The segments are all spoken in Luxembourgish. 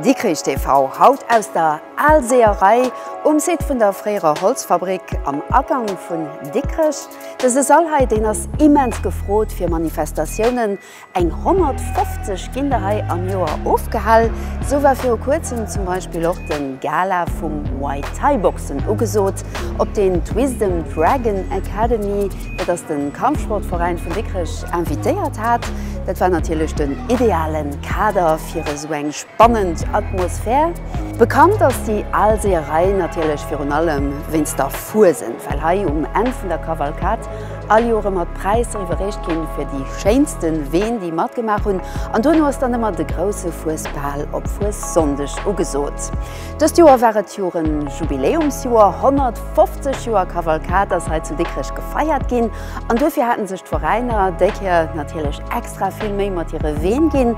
Dikrich TV, haut aus der Aalseeërei um Site vun der fréierer Holzfabrik am Agank vun Dikrech. Dëse Sall hei, deen ass immens gefrot fir Manifestatiounen, eng 150 ginn der hei am Joer ofgehal. Sou war viru kuerzem zum Beispill och de Gala vum Muay Thai Boxen ugesot, op deen d'Wisdom Dragon Academy, Et ass den Kampfsportveräin vun Dikrech invitéiert hat. Dat war natierlech den idealen Kader fir esou eng spannend Atmosphär. Bekannt ass déi al Seeërei natierlech virun allem wéinst der Fuesent, well hei um Enn vun der Kavalkad all Joer ëmmer d'Präisser iwwerreecht ginn fir déi schéinsten Ween déi matgemaach hunn. An duerno ass dann ëmmer de grousse Fuesbal op Fuessonndeg ugesot. Dëst Joer war et Joren Jubiläumsjoer, 150 Joer Kavalkad ass hei zu Dikrech gefeiert ginn an duerfir haten sech d'Veräiner déi Kéier natierlech extra vill Méi mat hire Ween ginn.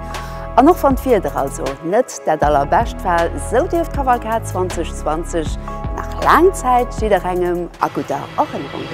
An och wann d'Wieder also net dat allerbescht war, sou dierf d'Kavalkad 2020 nach laang Zäit jidderengem a gudder Erënnerung bleiwen.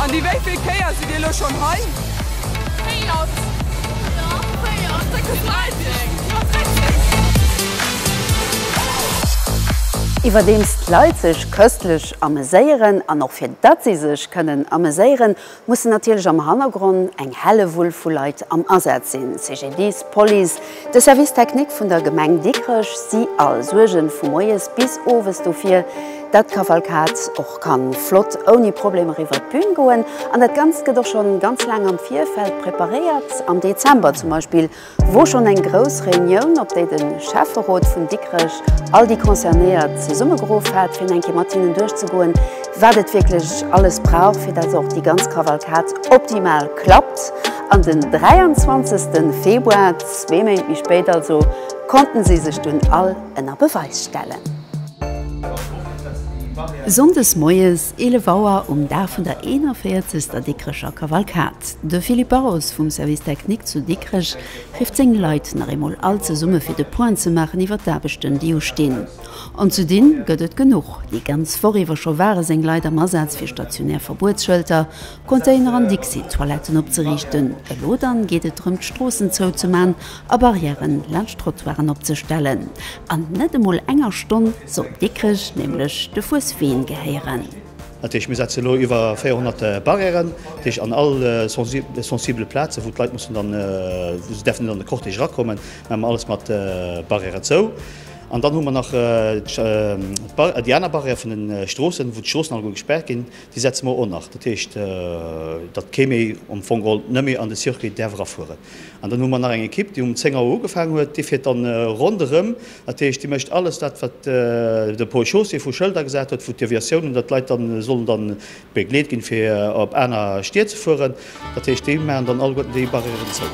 An déi wéivill Kéier sidd Dir elo schonn hei? Iwwerdeems d'Leit sech köstlech ameséieren, an och fir datt si sech kënnen ameséieren, mussen natierlech am Hannergronn eng Hellewull vu Leit am Asaz sinn, CGDIS, Police, De Service Technique vun der Gemeng Dikrech si all Suergen vu moies bis owes dofir, datt d'Kavalkad och kann flott ouni Problem eriwwer d'Bühn goen. An dat Ganzt gëtt och schonn ganz laang am Virfeld preparéiert. Am Dezember zum Beispill wor schonn eng grouss Reunioun, op déi den Schäfferot vun Dikrech all déi Concernéiert zesummegeruff hat, fir eng Kéier mat hinnen duerchzegoen, wat et wierklech alles brauch, fir datt och déi ganz Kavalkad optimal klappt An den 23 Februar, zwee Méint méi spéit also, konnten si sech dunn all ënner Beweis stellen. Sonndes moies 11 Auer um Dag vun der 41. Dikrecher Kavalkad. De Philippe Barros vum Service Technique zu Dikrech rifft seng Leit nach eemol all zesumme fir de Point ze maachen iwwer d'Aarbechten déi ustinn. An ze dinn gëtt et genuch. Déi ganz Woch iwwer scho ware seng Leit am Asaz fir stationär Verbuetsschëlter, Container an Dixi-Toiletten opzeriichten. Elo dann geet et drëm d'Stroossen zou ze man a Barrièren laanscht d'Trottoiren opzestellen. An net emol enger Stonn soll Dikrech nämlech de Fuesween gehéieren. Dat heescht, mir setzen elo iwwer 400 Barrièren, dat heescht an all sensibele Plazen, wou d'Leit mussen dann, wou se däerfen net an de Cortège erakommen, maache mer alles mat Barrièren zou. An dann hu mer nach déi aner Barrière vun de Stroossen, wou d'Stroossen alleguer gespaart ginn, Déi setze mer o nach. Dat heescht, datt kee méi am Fong geholl net méi an de Circuit däerf erafueren. An dann hu mer nach eng Ekipp, déi um 10 Auer ugefaangen huet. Déi fiert dann ronderëm. Dat heescht, déi mécht alles dat, wat de Pôle chaussée vu Schëlder gesat huet, wou d'Deviatiounen, datt d'Leit dann sollen dann begleet ginn, fir op aner Stied ze fueren. Dat heescht, déi maachen dann alleguerten déi Barrièren zou.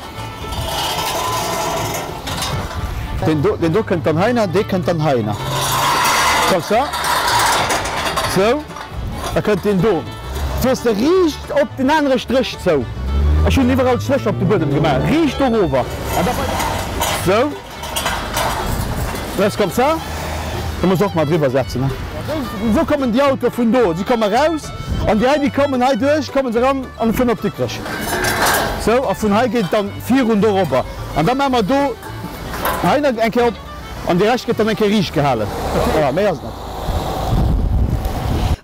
Deen do kënnt dann heihinner, dee kënnt dann heihinner. Comme ça. Sou. Da kënnt deen do. Fiers de riicht op den anere Stréch zou. Ech hunn iwwerall Strécher op de Buedem gemaach. Riicht dorower. An da weider. Sou. Laisse comme ça. Kann mech och mei driwwer setzen. Wou kommen déi Autoe vun do? Si komme raus an déi hei, déi kommen hei duerch, komme se eran an vun op Dikrech. Sou, a vun hei geet et dann virun dorobber an da maa mer do hei nach eng Kéier op an dee Rescht gëtt dann eng Kéier riicht gehalen. Voilà, méi ass et net.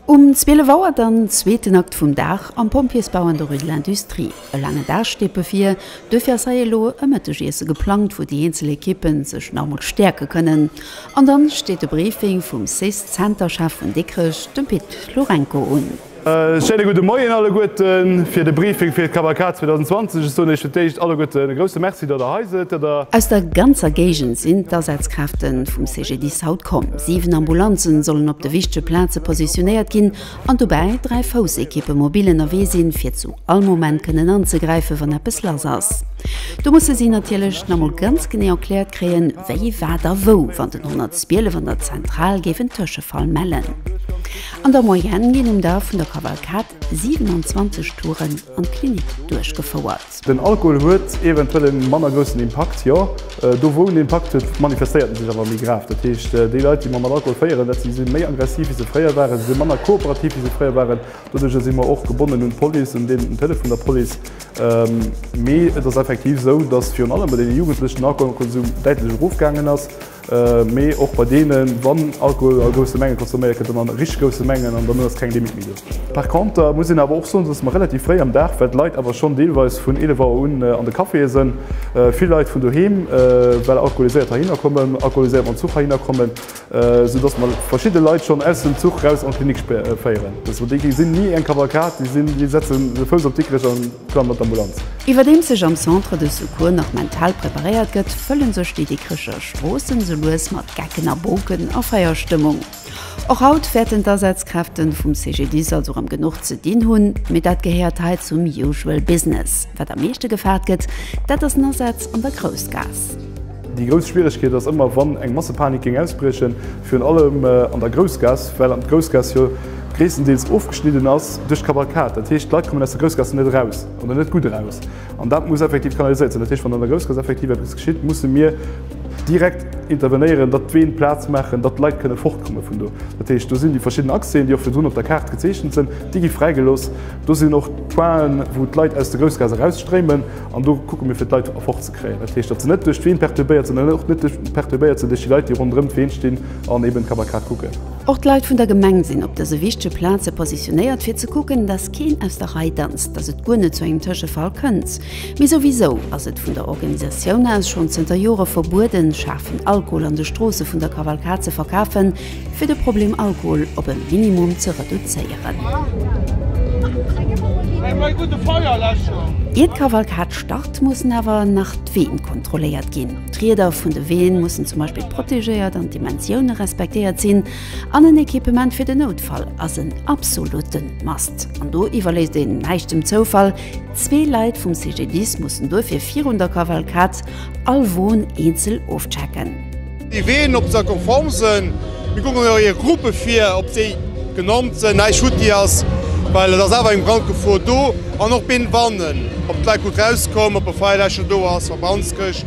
Um 12 Auer dann zweeten Akt vum Dag am Pompjeesbau an der Rue de l'Industrie. E laange Dag steet bevir, duerfir ass hei elo e Mëttegiesse geplangt, wou déi eenzel Ekippe sech nach emol stäerke kënnen. An dann steet e Briefing vum Cis-Center-Chef vun Dikrech, dem Pit Lourenco, un. E schéine gudde Moien alleguerte fir de Briefing fir d'Kavalkad 2020. Ech soen Iech fir d'éischt alleguerte e grousse Merci, datt Der hei sidd, datt Der. Aus der ganzer Géigend sinn d'Asazkräfte vum CGDIS haut komm. Siwen Ambulanze sollen op de wichtege Plaze positionéiert ginn An dobäi 3 Foussequippe mobil ënnerwee sinn, fir zu all Moment kënnen anzegräifen, wann eppes lass ass. Do musse si natierlech nach mol ganz genee erkläert kréien, wie, wat a wou, wann den 112 an der Zentral géif en Tëschefall mellen. An der Moyenne ginn um Dag vun der Kavalkad 27 Touren an d'Klinik duerchgefouert. Den Alkohol huet eventuell e manner groussen Impakt, jo, do wou en Impakt huet, manifestéiert e sech awer méi grav. Dat heescht, déi Leit, déi mer mat Alkohol féieren, dat si si méi aggressiv, wéi se fréier waren, si si manner kooperativ, wéi se fréier waren. Doduerjer si mer och gebonnen un d'Police, un deen Deel vun der Police. Mee et ass effektiv esou, dass virun allem bei deene Jugendlechen den Alkoholkonsum däitlech erofgaangen ass. Mee och bei deenen, wann Alkohol a grousse Menge consomméiert gëtt, dann a richteg grousse Mengen an dann ass keng Limit méi do. Par conter muss een awer och soen, dass mer relativ fréi am Dag, well d'Leit awer schonn deelweis vun 11 Auer un an de Caféë sënn, vill Leit vun doheem well alkoholiséiert heihinner kommen, alkoholiséiert mam Zuch heihinner kommen, sou dass mer verschidde Leit schonn aus dem Zuch raus an d'Klinik féieren. Déi sinn ni eng Kavalkad, déi setzen de Fouss op Dikrech an. Plan mat Ambulanz. Iwwerdeems sech am Centre de Secours nach mental preparéiert gëtt, fëllen sech déi Dikrecher Stroossen sou lues mat Gecken a Boken a Feierstëmmung. Och haut wäerten d'Asazkräften vum CGDIS also rëm genuch ze dinn hunn, mee dat gehéiert hei zum usual business. Wat am meeschte gefaart gëtt, dat ass en Asaz an der Groussgaass. Déi grouss Schwieregkeet ass ëmmer, wann eng Massepanik géing ausbriechen, virun allem an der Groussgaass, well an d'Groussgaass jo gréisstendeels ofgeschnidden ass duerch d'Kavalkad. Dat heescht, d'Leit kommen aus der Groussgaass net eraus oder net gutt eraus. An dat muss effektiv kanaliséiert sinn. Dat heescht, wann an der Groussgaass effektiv eppes geschitt, musse mir direkt intervenéieren, datt d'Ween Plaz maachen, datt d'Leit kënne fortkomme vun do. Dat heescht, do sinn déi verschidden Accèsen, déi och virdrun op der Kaart gezeechent sinn, déi gi fräigelooss. Do sinn och d'Pointen, wou d'Leit aus der Groussgaass erausstréimen an do kucke mir, fir d'Leit erfortze. kréien. Dat heescht, datt se net duerch d'Ween perturbéiert sinn an och net perturbéiert sinn duerch déi Leit, déi ronderëm d'Ween stinn an eben d'Kavalkad kucken. Och d'Leit vun der Gemeng sinn op dëse wichtege Plaze positionéiert, fir ze kucken, datt keen aus der Rei danzt, datt et guer net zu engem Tëschefall kënnt. Mee souwisou ass et vun der Organisatioun aus schonn zënter Jore verbueden, schaarfen Alkohol an de Stroosse vun der Kavalkad ze verkafen. fir de Problem Alkohol op e Minimum ze reduzéieren. Ier d'Kavalkad start, mussen awer nach d'Ween kontrolléiert ginn. D'Rieder vun de Ween mussen zum Beispill protegéiert an d'Dimensioune respektéiert sinn. An en Equipement fir den Noutfall ass en absolutten must. An do iwwerléisst een näischt dem Zoufall. Zwee Leit vum CGDIS mussen duerfir virun der Kavalkad all Won eenzel ofchecken. Déi Ween op der Konform sënn, mir kucken eis hir Gruppe vir, ob déi genannt sënn, näischt schued déi ass, well et ass awer eng Brandgefor do, an och been bannen, ob d'Leit gutt rauskoum, ob e Feierläscher do ass, Verbrandskäscht,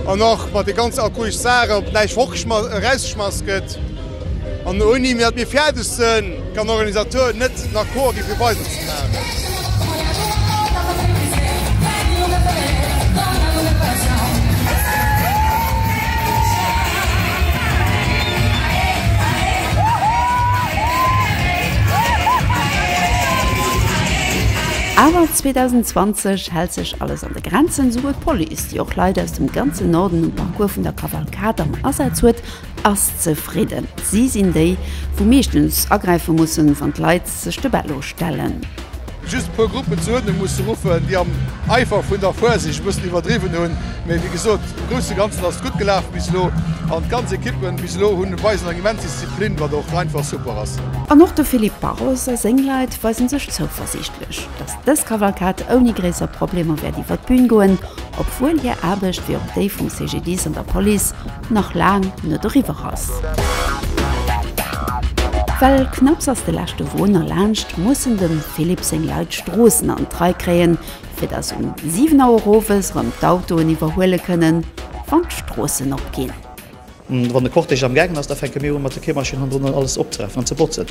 an och mat de ganze arkoisch Saachen, ob näischt fortgeschma, erausgeschmass gëtt. An ouni datt mir fäerdeg sënn, kann den Organisateur net en Accord gi fir weider ze maachen. Awer 2020 hält sech alles an de Grenzen, souwuel d'Police, déi och Leit aus dem ganzen Norden um Parcours vun der Kavalkad am Asaz huet, Ass zefridden. Si sinn déi, wou meeschtens agräife mussen, wann d'Leit sech de Bello stellen. Just e puer Gruppen zur Uerdnung musse ruffen, déi am Eifer vun der Vorsicht e bëssen iwwerdriwwen hunn. Mee wéi gesot, am grousse Ganzen ass et gutt gelaf bis elo. An d'ganz Equippen bis elo hunn weisen eng immens Disziplin, wat och einfach super ass. An och de Philippe Barros a seng Leit weisen sech zouversiichtlech, dass dës Kavalkad ouni gréisser Problemer wäert iwwer d'Bün goen, obwuel hir Aarbecht, wéi och déi vum CGDIS an der Police, nach laang net eriwwer ass. Well knapps ass de leschte Won erlaanscht, mussen dem Philippe seng Leit d'Stroossen an d'Rei kréien, fir datt um 7 Auer owes erëm d'Autoen iwwerhuele kënnen, wann d'Stroossen op ginn. Wann de Cortège amgaangen ass, da fänke mir u mat de Keemaschinn hannendrun alles opzerafen an ze botzen.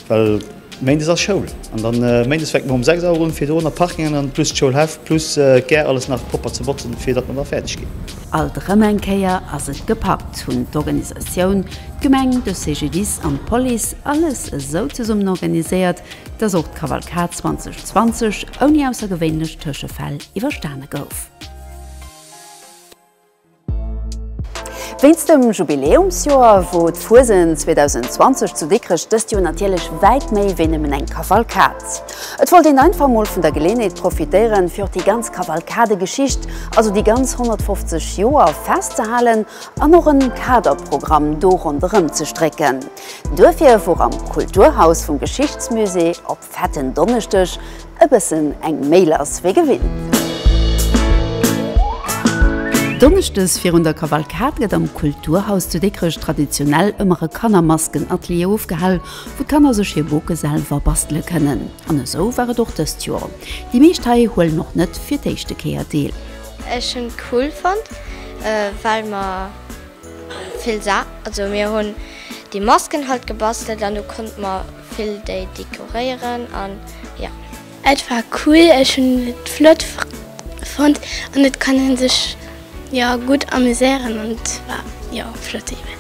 Well Méindes ass Schoul an dann Méindes fänkt mer um 6 Auer un fir do nach Parking an dann plus d'Schoulhäff plus d'Gare alles nach propper ze botzen fir datt mer da fäerdeg ginn. Alt erëm eng Kéier ass et gepackt, hunn d'Organisatioun, d'Gemeng, de CGDIS an d'Police alles esou zesummen organiséiert, datt och d'Kavalkad 2020 ouni aussergewéinlech Tëschefäll iwwerstane gouf. Wéinst dem Jubiläumsjoer, wou d'Fuesent 2020 zu Dikrech dëst Joer natierlech wäit méi wéi nëmmen eng Kavalkad. Et wollt een einfach mol vun der Geleeënheet profitéieren, fir och déi ganz Kavalkadegeschicht, also déi ganz 150 Joer festzehalen an och en Kaderprogramm do ronderëm ze strécken. Duerfir wor am Kulturhaus vum Geschichtsmusée op. Fetten Donneschdeg, e bëssen eng méi lass wéi gewinnt. Donneschdes virun der Kavalkad gëtt am Kulturhaus zu Dikrech traditionell ëmmer e Kannermaskenatelier ofgehal, wou d'Kanner sech hir Boke selwer bastele kënnen. An esou war et och dëst Joer. Déi meescht hei huelen och net fir d'éischte Kéier deel. Ech hunn cool fonnt well mer. Vill Sa, also mir hunn déi Masken halt gebastelt an du konnt mer vill déi dekoréieren an ja. Et war cool, ech hunn et flott fonnt an et kann een sech jo gutt amuséieren an et war jo flott eben.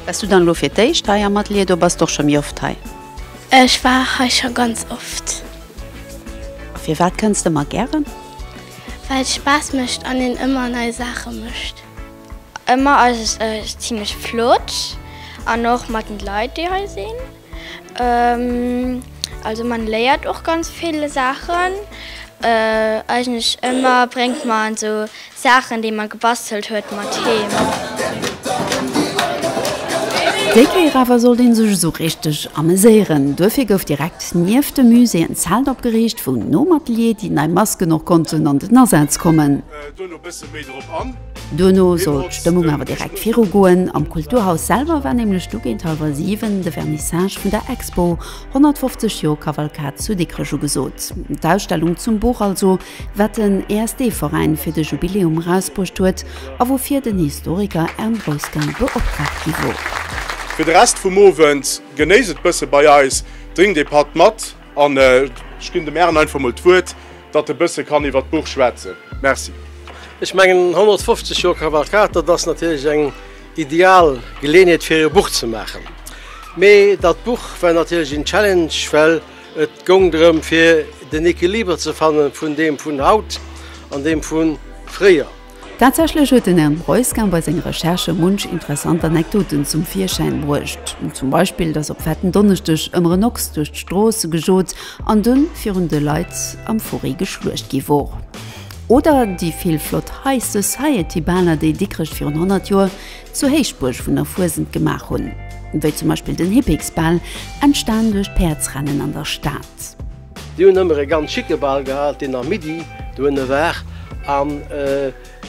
Bass du dann elo fir d'éischt hei am Atelier oder bass de och scho méi oft hei? Ech war hei scho ganz oft. A firwat kënns de ëmmer gären? Well et Spaass mécht an een ëmmer nei Saache mécht. Ëmmer ass et zimlech flott an och mat den Leit déi hei sinn. Also man léiert och ganz vill Saachen. Eigentlech ëmmer bréngt man esou Saachen déi man gebastelt huet mat heem. Déi Kéier awer sollt een sech esou richteg ameséieren. Duerfir gouf direkt nieft dem Musée en Zelt opgeriicht wou nom Atelier déi nei Masken och konnten an den Asaz kommen. Duerno sollt d'Stëmmung awer direkt viru goen. Am Kulturhaus selwer war nämlech du géint hallwer 7 de Vernissage vun der Expo 150 Joer Kavalkad zu Dikrech ugesot. D'Ausstellung zum Buch also, wat den ESD-Veräin fir de Jubiläum erausbruecht huet a woufir den Historiker Ern Roesgen beoptraagt gi wor. Fir de Rest vum Owend, genéisst et bësse bei eis, drinkt ee Patt mat. An ech ginn dem Aaron einfach mol d'Wuert, datt e bësse kann iwwert d'Buch schwätzen. Merci. Ech mengen 150 Joer Kavalkad, dat ass natierlech eng ideal Geleeënheet fir e Buch ze maachen. Mee dat Buch war natierlech een Challenge, well et goung drëm fir den Equiliber ze fanne vun deem vun haut an deem vu fréier. Tatsächlech huet den Herrn Breusgen bei senge Recherchë munch interessant Anekdoten zum Virschäin bruecht, zum Beispill dass op fetten Donneschdeg ëmmer en Ochs duerch d'Stroosse gejot an dunn virun de Leit am Fourré geschluecht gi wor. Oder déi vill flott High Society Baler déi Dikrech virun 100 Joer zur Héichbuerg vun der Fuesent gemaach hunn, wéi zum Beispill den Hippiksbal, entstan duerch d'Päerdsrennen an der Stad. Déi hunn ëmmer e ganz schicke Bal gehat, deen am Midi dohinne war, an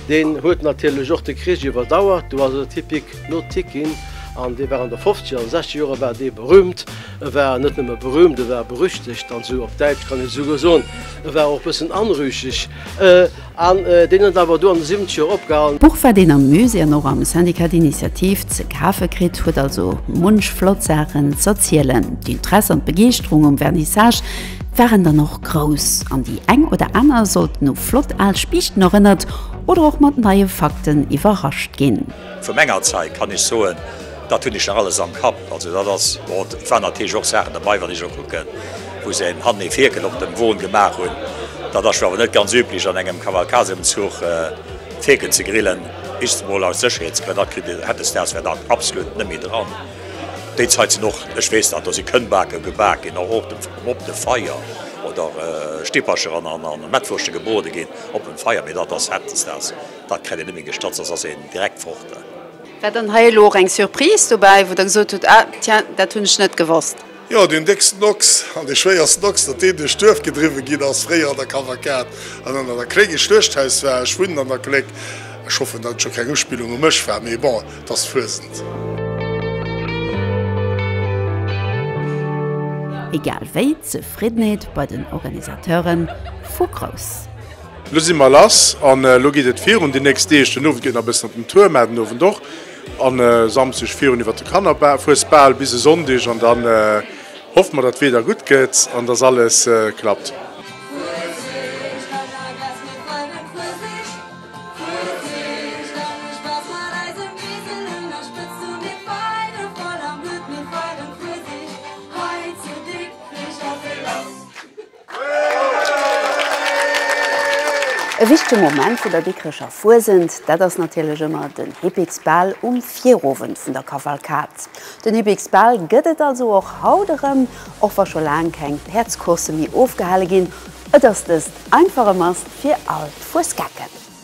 deen huet natierlech och de Krich iwwerdauert. Do ass et Hippick no Tick ginn, an dee war an de Fofzeger an Sechzeger Jore war dee berüümt. E war net nëmme berüümt, e war berüchtegt, also op Däitsch kann een esouguer soen, e war och e bëssen anrüchig. An deen huet awer do an de Siwenzgeger opgehalen. D'Buch, wat een am Musée an och am Syndicat d'Initiative ze kafe kritt, huet also munch flott Saachen z'erzielen. D'Interesse an d'Begeeschterung um Vernissage waren dann och grouss an déi eng oder aner sollten u flott al Spiichten erënnert oder och mat neie Fakten iwwerrascht ginn. Vu menger Zait kann ech soen, Dat hunn ech nach alles am Kapp. Also dat ass, bon, et waren natierlech och Saachen derbei, wann ech elo kucken, wou se en hannen ee Fierkel op dem Won gemaach hunn. Dat ass jo awer net ganz üblech an engem Kavalkadeëmzuch Fierken ze grillen, just emol aus Sécherheetsgrënn. Dat kritt e, hätt e Stars wär dat absolut net méi dran. Déi Zait sinn och, ech weess dat, do si Kënnbake gebak ginn, och op dem op de Feier oder Stippercher an an Mettwurschte gebrode ginn op dem Feier, mee dat ass, hätt e Stars, dat kräit een net méi gestatzt, dat ass een direkt fort. War dann hei elo och eng Surprise dobäi, wou Der gesot hutt, ah, tiens, dat hunn ech net gewosst? Jo, deen décksten Ochs an dee schwéiersten Ochs, datt deen duerch d'Duerf gedriwwe ginn ass, fréier an der Kavalkad an ënner der Kléck e Schluechthaus war. Ech wunnen an der Kléck. Ech hoffen, datt et scho keng Uspillung u mech war, mee bon, et ass Fuesent. Egal wéi, d'Zefriddenheet bei den Organisateuren fu grouss. Lo si mer lass an lo geet et virun déi nächst Deeg. Den Owend geet nach e bëssen op den Tour, mä den Owend och. A Samsdeg virun iwwert de Kannerfuesbal bis e Sonndeg an dann hoffe mer, datt d'Wieder gutt gëtt an datt alles klappt. E wichtege Moment vun der Dikrecher Fuesent, dat ass natierlech ëmmer den Hippiksbal um Virowend vun der Kavalkad. Den Hippiksbal gëtt et also och haut erëm, och wa scho laang keng Päerdscoursse méi ofgehale ginn. Et ass dëst einfach e Mast fir all d'Fuesgecken.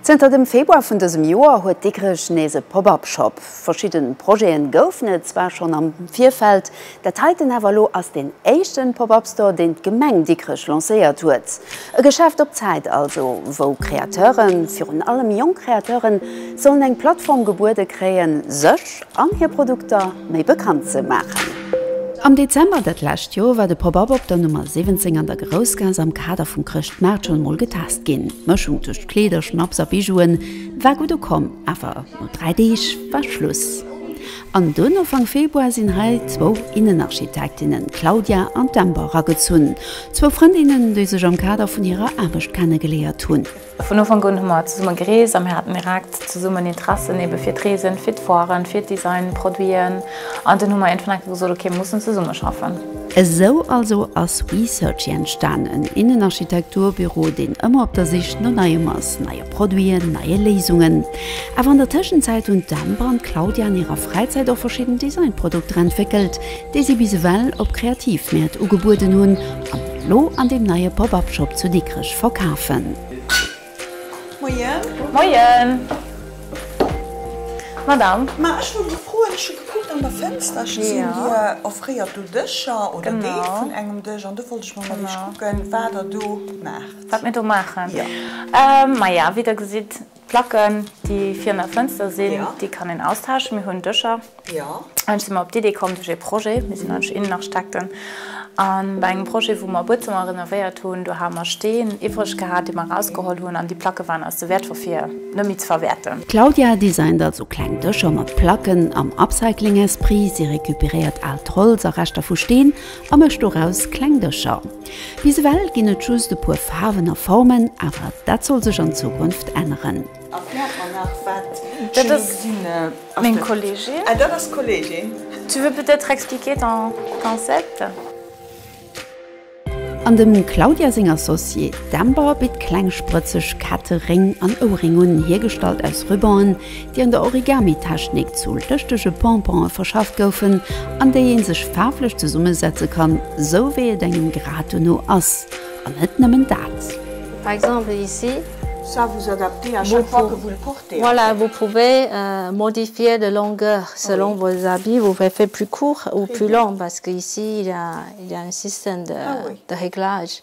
Zënter dem Februar vun dësem Joer huet Dikrech nees e Pop-Up Shop. Verschidde Projete goufen et zwar schonn am Virfeld, dat heiten awer elo ass deen éischte Pop-Up Store, deen d'Gemeng Dikrech lancéiert huet. E Geschäft op Zäit also, wou Kreateuren, virun allem jonk Kreateuren, sollen eng Plattform gebuede kréien, sech. March an hir Produkter méi bekannt ze maachen. Am Dezember dat lescht Joer war de Pop-Up op der Nummer 17 an der Groussgaass am Kader vum Chrëschtmaart schonn emol getest ginn. D'Mëschung tëscht Kleeder, Schnapps a Bijouen war gutt ukomm, awer no dräi Deeg war Schluss an dunn, Ufank Februar, sinn hei zwou Innenarchitektinnen, d'Claudia an d'Ember, eragezunn. Zwou Frëndinnen, déi sech am Kader vun hirer Aarbecht kennegeleéiert hunn. Vun Ufank un hu mer zesumme gereest a mir haten direkt zesummen Interessen ebe fir d'Reesen, fir d'Foiren, fir Design, Produiten an dunn hu mer iergendwann enke gesot, ok, mir mussen zesumme schaffen. Esou also ass WeSearchy entstanen, Innenarchitekturbüro, deen ëmmer op der Sich no Neiem ass, neie Produiten, neie Léisungen. Awer an der Tëschenzäit hunn d'Amber an d'Claudia an hirer Fräizäit och verschidden Designprodukter entwéckelt, déi si bis ewell op Kreativmäert ugebueden hunn, Kann een elo an deem neie Pop-Up Shop zu Dikrech verkafen. Moien. Moien. Madame. Ma ech wor gefrot, ech hu gekuckt an der Fenster, ech gesinn dir offréiert do Dëscher oder Deel vun engem Dësch an do wollt ech mol mat iech kucken wat der do maacht. Wat mir do maachen? Jo. Ma ja, wéi der gesitt, D'Placken, déi virun der Fënster sinn, déi kann een austauschen. Mir hunn Dëscher. Ech sinn mer op d'Idee komm duerch ee Projet, mir sinn nämlech Innenarchitekten, a bei engem Projet, wou mer e Buedzëmmer renovéiert hunn, do hu mer Steen iwwreg gehat, déi mer erausgeholl hunn, an déi Placke waren eis ze wäertvoll, fir net méi ze verwäerten. D'Claudia designt also kleng Dëscher mat Placken am Upcycling-Esprit. Si recuperéiert aalt Holz a Reschter vu Steen a mécht doraus kleng Dëscher. Bis ewell ginn et just e puer Faarwen a Formen, awer dat soll sech an Zukunft änneren. An dem Claudia seng Associée d'Amber bitt kleng sprëtzeg Ketteréng an Ouréng un, hiergestallt aus Rubanen, déi an der Origami-Technik zu lëschtege Pompone verschafft goufen, an déi ee sech faarflech zesummesetze kann, sou wéi et engem grad dono ass. An net nëmmen dat. Par exemple ici. Ça vous adaptez à chaque fois que vous le portez. Voilà, vous pouvez modifier de longueur selon vos habits, vous pouvez faire plus court ou plus long, parce que ici il y a un système de réglage.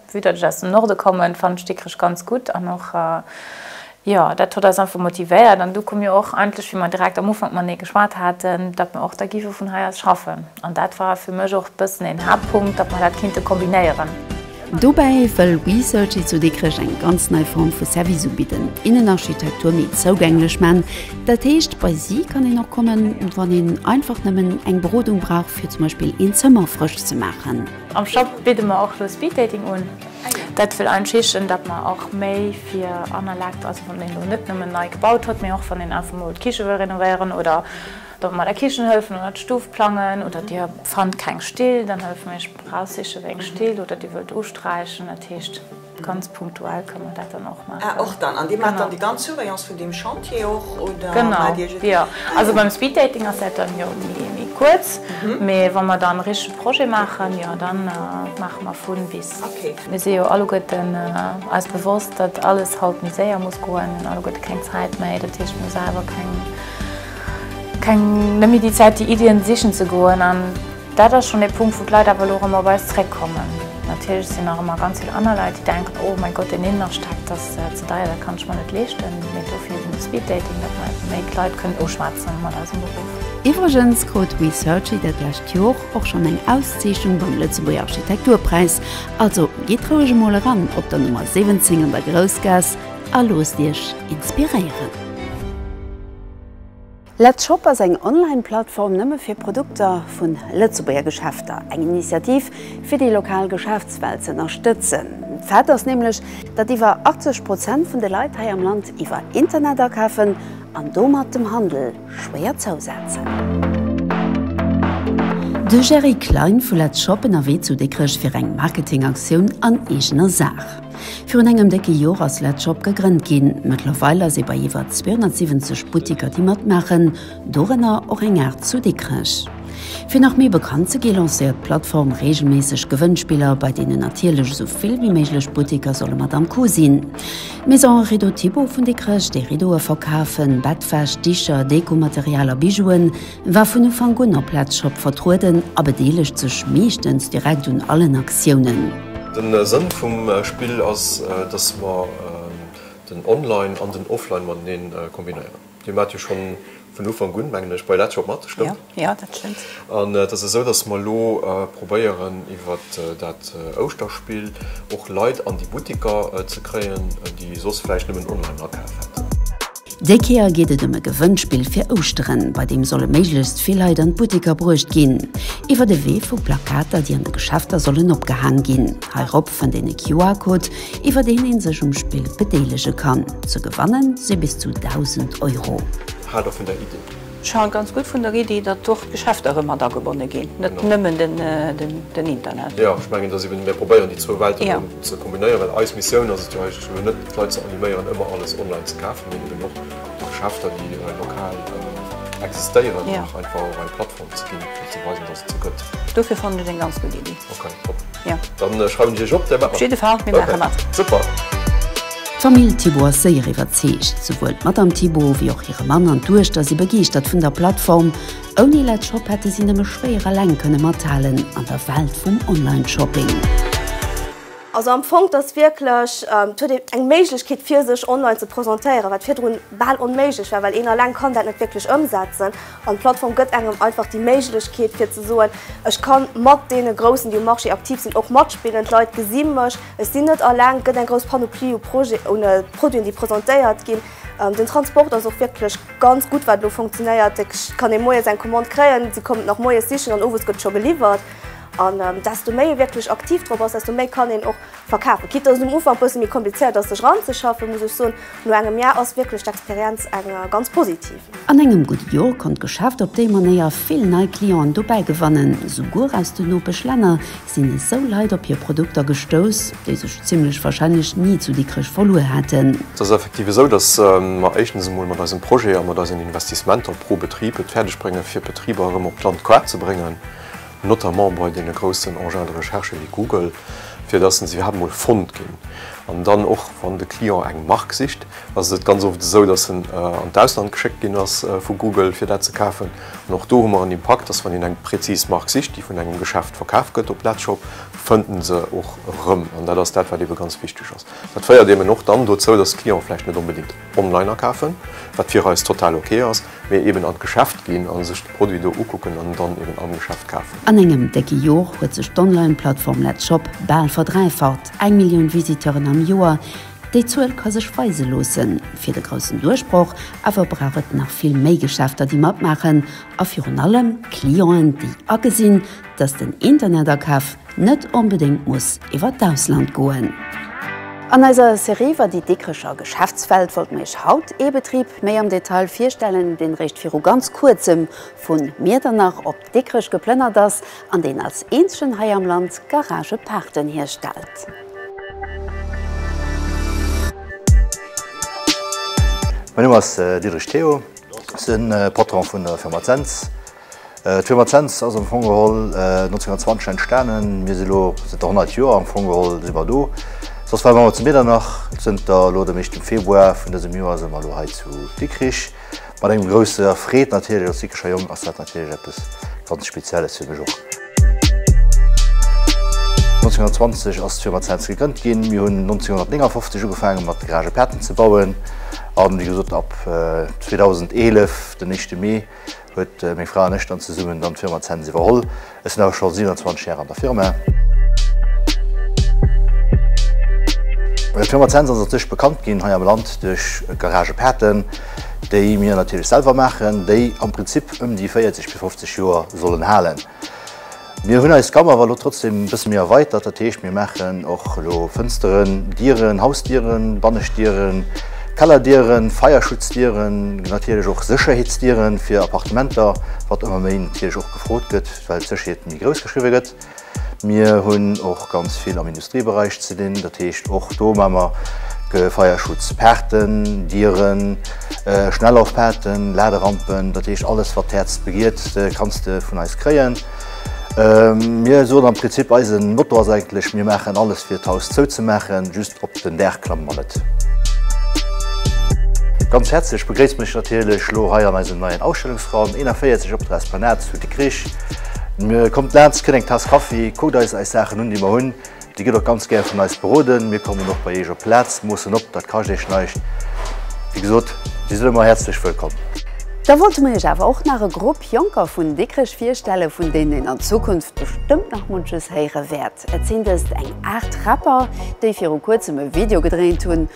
Vue dat ech aus dem Norde kommen, fannen ech Dikrech ganz gutt an och jo dat hott eis einfach motivéiert an du komm jo och endlech wéi mer direkt am Ufank matenee geschwat haten, dat mer och da gife vun hei aus schaffen an dat war fir mech och bëssen een Haaptpunkt, dat mer dat kinnte kombinéieren. Dobäi wëll WeSearchy zu Dikrech eng ganz nei Form vu Service ubidden, Innenarchitektur méi zougänglech man, dat heescht bei si kann een och kommen wann een einfach nëmmen eng Berodung brauch fir zum Beispill een Zëmmer frësch ze maachen. Am Shop bidde mer och elo Speed Dating un. Dat wëll eigentlech heeschen, dat mer och méi fir Annerlagte, also wann een elo net nëmmen nei gebaut huet, mee och wann een einfach mol d'Kiche wëll renovéieren oder do mat der Kichen hëllefen oder d'Stuf plangen oder Dir fannt keng Still, dann hëllefe mir iech beim Eraussiche wéi eng Still oder Dir wëllt usträichen, dat heescht. Ganz punktuell kann man dat dann och maachen. Ah, och dann. An Dir maacht dann déi ganz Surveillance vun deem Chantier och, oder? Genau, jo. Also beim Speeddating ass dat dann jo méi kuerz, mee wa mer dann e richtege Projet maachen, jo, da maache mer vun bis. Okay. Mir si jo alleguerten eis bewosst, datt alles haut méi séier muss goen. Mir hunn alleguerte keng Zäit méi. Dat heescht, mir hu selwer keng, net méi déi Zäit, déi Iddien sichen ze goen. Dat ass schonn ee Punkt, wou d'Leit awer elo erëm op eis zréckkommen. Natierlech sinn nach ëmmer ganz vill aner Leit, déi denken, oh mäi Gott, deen Innenaschteg, dat ass ze deier, dat kann ech mer net leeschten. Mee dofir sinn de Speed Dating da, fir einfach méi d'Leit kënnen uschwätzen mat eisem Beruff. Iwwregens krut We Searchy dat lescht Jor och schonn eng Auszeechnung beim Lëtzebuerger Architekturpräis. Also gitt roueg emol eran op der Nummer 17 an der Groussgaass a loosst Iech inspiréieren. Let's Shop ass eng Online-Plattform nëmme fir Produkter vu Lëtzebuerger Geschäfter. Eng Initiativ, fir déi lokal Geschäftswelt ze ënnerstëtzen. D'Fact ass nämlech, datt iwwer 80 Prozent vun de Leit hei am Land iwwer Internet akafen an domat dem Handel schwéier zousetzen. De Gerry Klein vu Let's Shop ënnerwee zu Dikrech fir eng Marketing-Aktioun an eegener Saach. Virun engem décke Jor ass Let Shop gegrënnt ginn. Mëttlerweil ass ee bei iwwer 270 Buttiker déi matmaachen, dorënner och eng Aart zu Dikrech. Fir nach méi bekannt ze gi lancéiert d'Plattform reegelméisseg Gewënnspiller, bei deenen natierlech esou vill wéi méiglech Buttiker solle mat am Coup sinn. D'Maison Rideau Thibaud vun Dikrech, déi Riddoe verkafen, Bettwäsch, Dicher, Dekomaterial a Bijouen, War vun Ufank un op Letzshop vertrueden a bedeelegt sech meeschtens direkt un allen Aktiounen. Den Sënn vum Spill ass dass mer den Online an den Offline mateneen kombinéieren. Dir maat jo schon vun Ufank un mengen ech bei Letzshop mat, stëmmt? Jo, dat stëmmt. An et ass esou dass mer elo probéieren iwwert dat Ouschterspill och Leit an déi Buttiker ze kréien déi soss vläicht nëmmen Online akaf hätten. Déi Kéier geet et ëm e Gewënnspill fir Ouschteren, bei deem solle méiglechst vill Leit an d'Butteker bruecht ginn, iwwert e Wee vu Plakater, déi an de Geschäfter sollen opgehaang ginn. Heirop fënnt een e QR-Code, iwwer deen ee sech um Spill bedeelege kann. Ze gewanne si bis zu 1.000 Euro. Haalt och vun der Iddi! Ech halen ganz gutt vun der Iddi, datt och d'Geschäfter erëm mat agebonne ginn, net nëmmen den Internet. Jo, ech mengen, datt eben mir probéieren, déi zwou Welten erëm ze kombinéieren, well eis Missioun ass et jo eigentlech elo net, d'Leit ze animéieren, ëmmer alles online ze kafen, mee eben och de Geschäfter, déi lokal existéieren, einfach och eng Plattform ze ginn, fir ze weisen, datt et se gëtt. Dofir fannen ech eng ganz gutt Iddi. D'Famill Thibaud ass séier iwwerzeegt. Souwuel d'Matt am Thibaud wéi och hire Mann an d'Duechter si begeeschtert vun der Plattform. Ouni Let Shop hätte si nëmme schwéier eleng kënne mathalen an der Welt vum Online-Shopping. Also am Fong, et ass wierklech, et huet een eng Méiglechkeet fir sech online ze presentéieren, wat virdrun bal onméiglech war, well een eleng kann dat net wierklech ëmsetzen. An d'Plattform gëtt engem einfach déi Méiglechkeet fir ze soen, ech ka mat deene Groussen, déi um Marché aktiv sinn, och matspillen. D'Leit gesi mech, ech sinn net alleng. Et gëtt eng grouss Panoplie u Produiten, déi presentéiert ginn. Den Transport ass och wierklech ganz gutt, wat elo funktionéiert. Et kann ee moies eng Commande kréien, si kommen et nach moies sichen an owes gëtt scho geliwwert. An desto méi ee wierklech aktiv drop ass, desto méi kann een och, Verkafen. Quitte dass et um Ufank e bësse méi komplizéiert ass sech ranzeschaffen, muss ech soen, no engem Jar ass wierklech d'Experienz eng ganz positiv. An engem gudde Jor konnt d'Geschäft op déi Manéier vill nei Clienten dobäi gewannen. Souguer aus den Nopeschlänner sinn esou Leit op hir Produkter gestouss, déi sech zimmlech warscheinlech ni zu Dikrech verluer hätten. Et ass effektiv esou, dass mer éischtens emol mat eisem Projet a mat eisen Investissementer pro Betrib et fäerdeg bréngen, fir d'Betriber erëm op d'Land Quart ze bréngen. notamment bei deene groussen Engins de recherche wéi Google, fir dass en se iwwerhaapt emol fonnt ginn. An dann och wann de Client eng Mark sicht, ass et ganz oft esou, dass en an d'Ausland geschéckt ginn ass vu Google, fir dat ze kafen. An och do hu mer en Impakt, dass wann een eng präzis Mark sicht, déi vun engem Geschäft verkaf gëtt op Latshop, fënnt en se och erëm. An dat ass dat, wat ebe ganz wichteg ass. Dat féiert eben och dann dozou, dass d'Clienten vläicht net onbedéngt online akafen, wat fir eis total ok ass. Mee eben an d'Geschäft ginn a sech de Produit do ukucken an dann eben am Geschäft kafen. An engem décke Jor huet sech d'Online-Plattform Let's Shop bal verdräifacht, eng Millioun Visiteuren am Joer. Déi Zuel ka sech weise loosse fir de groussen Duerchbroch, awer brauch et nach vill méi Geschäfter, déi matmaachen a virun allem Clienten, déi agesinn, Dass den Internetakaf net onbedéngt muss iwwer d'Ausland goen. An eiser Serie iwwer déi Dikrecher Geschäftswelt wollt mir iech haut ee Betrib méi am Detail virstellen, deen réischt viru ganz kuerzem vun Miedernach op Dikrech geplënnert ass an deen als eenzegen hei am Land Garagepaarten hierstellt. Mäin Numm ass Diederich Théo, ech sinn Patron vun der Firma Zens. D'Firma Cents ass am Fong geholl 1920 entstanen. Mir si elo zënter 100 Joer am Fong geholl si mer do. Soss ware mer emmer zu Miedernach. Zënter elo dem éischten Februar vun dësem Joer si mer elo hei zu Dikrich. Mat engem grousser Freed natierlech, als Dikricher Jong ass dat natierlech eppes ganz Spezielles fir mech och. 1920 ass d'Firma Cents gegrënnt ginn. Mir hunn 1959 ugefaange mat Garage Paten ze bauen. An wéi gesot ab 2011 den éischte Mee Huet meng Fra an ech dann zesummen dann d'Firma Zens iwwerholl. Ech sinn awer scho 27 Jahre an der Firma. D'Firma Zens ass natierlech bekannt ginn hei am Land duerch Garagepaten, déi mir natierlech selwer maachen, déi am Prinzip ëm déi 40 bis 50 Joer sollen halen. Mir hunn eis Gamme awer elo trotzdem e bësse méi erweitert. Dat heescht, mir maachen och elo Fënsteren, Dieren, Hausdieren, Banneschtdieren, Kellerdieren, Feierschutzdieren, natierlech och Sécherheetsdieren fir Appartementer, wat ëmmer méi natierlech och gefrot gëtt, well d'Sécherheet méi grouss geschriwwe gëtt. Mir hunn och ganz vill am. Beräich ze dinn. Dat heescht och do man mer Feierschutz, Paarten, Dieren, Schnellauffahten, Laderampen, dat heescht alles wat d'Häerz begiert kanns de vun eis kréien. Mir soen am Prinzip eisen Motto ass eigentlech mir maachen alles fir d'Haus zou ze maachen, just op den Daach klamme mer net. Ganz häerzlech begréisst mech natierlech lo hei an eisem neien Ausstellungsraum 41 op der Esplanade zu Dikrich. Kommt laanz, kënnt eng Taass Kaffi, kuckt eis eis Saachen un, déi mer hunn. Dir gitt och ganz gär vun eis beroden. Mir kommen och bei Iech op d'Plaz, moossen op, dat kascht Iech näischt. Wéi gesot, Dir sidd ëmmer häerzlech wëllkomm. Da wollte mer Iech awer och nach e Grupp Jonker vun Dikrech virstellen, vun deenen een an Zukunft bestëmmt nach munches héiere wäert. Et sinn dëst eng Aart Rapper, déi viru kuerzem e Video gedréint hunn.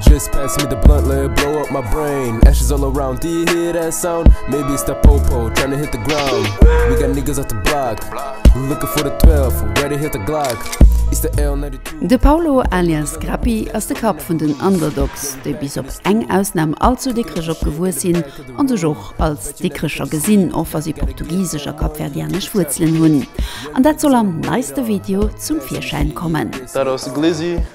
Just pass me the blunt, let it blow up my brain Ashes all around, do you hear that sound? Maybe it's that popo trying to hit the ground We got niggas off the block Looking for the 12, ready to hit the Glock It's the L92 De Paulo alias Grappi ass de Kapp vun den Underdogs, déi bis op eng Ausnam all zu Dikrech opgewuess sinn a sech och als Dikrecher gesinn, och wa si portugisesch a kapverdianesch Wuerzelen hunn. An dat soll am neiste Video zum Virschäin kommen. Dat ass de Glizzy,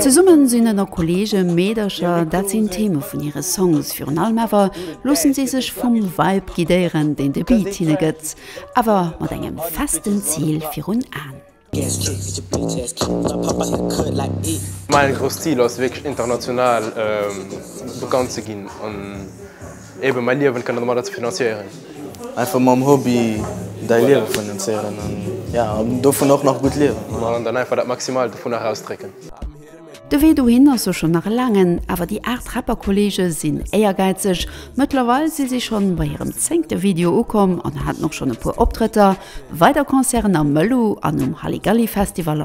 Zesumme sinn ënner Kolleege, Meedercher, dat sinn d'Theme vun hire Songs. Virun allem awer loosse si sech vum Vibe guidéieren, deen de Beat hinne gëtt, awer mat engem festen Zil virun An. Mäi grouss Zil ass wierklech international bekannt ze ginn. Eben, mäi Liewen kënne domadder ze finanzieren. Einfach mam Hobby däi Liewe finanzieren an ja, an dovun och nach gutt liewen, voilà. An dann einfach dat Maximaalt dovunner erausdrécken. De Wee dohin ass jo schonn nach e laangen, awer déi 8 Rapper-Kolleege sinn éiergäizeg. Mëttlerweil si si schonn bei hirem zéngte Video ukomm an haten och schonn e puer Optrëtter, weider Concerten am Mëllu an um Halligalli-Festival.